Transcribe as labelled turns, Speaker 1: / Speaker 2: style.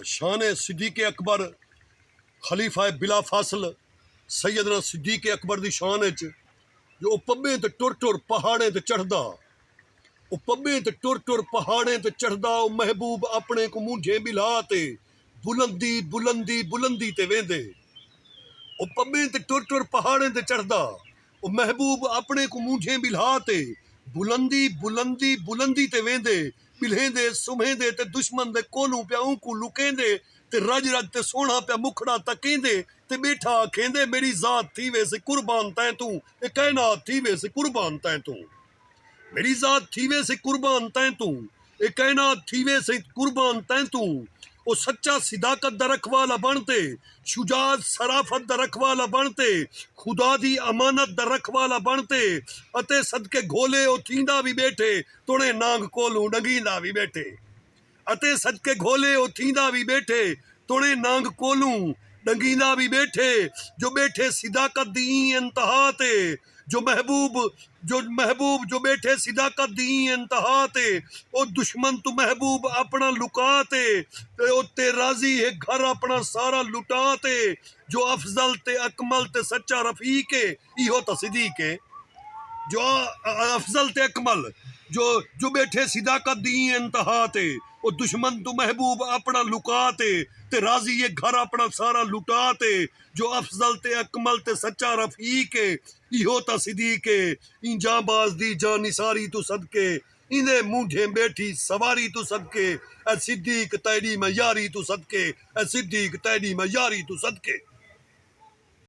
Speaker 1: شان صدیق اکبر خلیفہ بلا فاصل سیدنا صدیق اکبر دی شان اچ جو او پبیں تے ٹر ٹر پہاڑیں تے چڑھدا او پبیں تے ٹر ٹر پہاڑیں تے چڑھدا او محبوب اپنے کوں مونجھیں ٻلھا تے بلندی بلندی بلندی تے ویندے او پبیں تے ٹر ٹر پہاڑیں تے چڑھدا او محبوب اپݨیں کوں مونجھیں ٻلھا تے بلندی بلندی بلندی تے ویندے ٻلھیندے سمھیندے تے دشمن دے کولھوں پیا اونکوں لکیندے تے رڄ رڄ تے سوہݨا پیا مکھڑا تکیندے تے ٻیٹھا آکھیندے میݙی ذات تھیویس قربان تیں توں اے کائنات تھیویس قربان تیں توں۔ میݙی ذات تھی ویسے قربان تیں توں اے کائنات تھی ویسے قربان تیں توں او سچا صداقت دا رکھوالا بݨ تے شجاع صرافت دا رکھوالا بݨ تے خدا دی امانت دا رکھوالا بݨ تے اتے صدقے گھولے او تھیندا وی ٻیٹھے توݨے نانگ کولوں ݙنگھیندا وی ٻیٹھے اتے صدقے گھولے او تھیندا وی ٻیٹھے توڑیں نانگ کولوں ݙنگیندا وی ٻیٹھے جو ٻیٹھے صداقت دی ایں انتہا تے جو محبوب جو محبوب جو ٻیٹھے صداقت دی ایں انتہا تے او دشمن توں محبوب اپݨا لکا تے او تے راضی ہے گھر اپݨا سارا لٹا تے جو افضل تے اکمل تے سچا رفیق ہے ایہو تصدیق ہے جو افضل تے اکمل جو جو ٻیٹھے صداقت دی ایں انتہا تے او دشمن توں محبوب اپݨا لکا تے تے راضی اے گھر اپݨا سارا لٹا تے جو افضل تے اکمل تے سچا رفیق اے ایہو تصدیق ہے ایں جانباز دی جاں نثاری توں صدقے ایندے مونجھیں ٻیٹھی سواری توں صدقے اے صدیق تیݙی میں یاری توں صدقے اے صدیق تیݙی میں یاری توں صدقے۔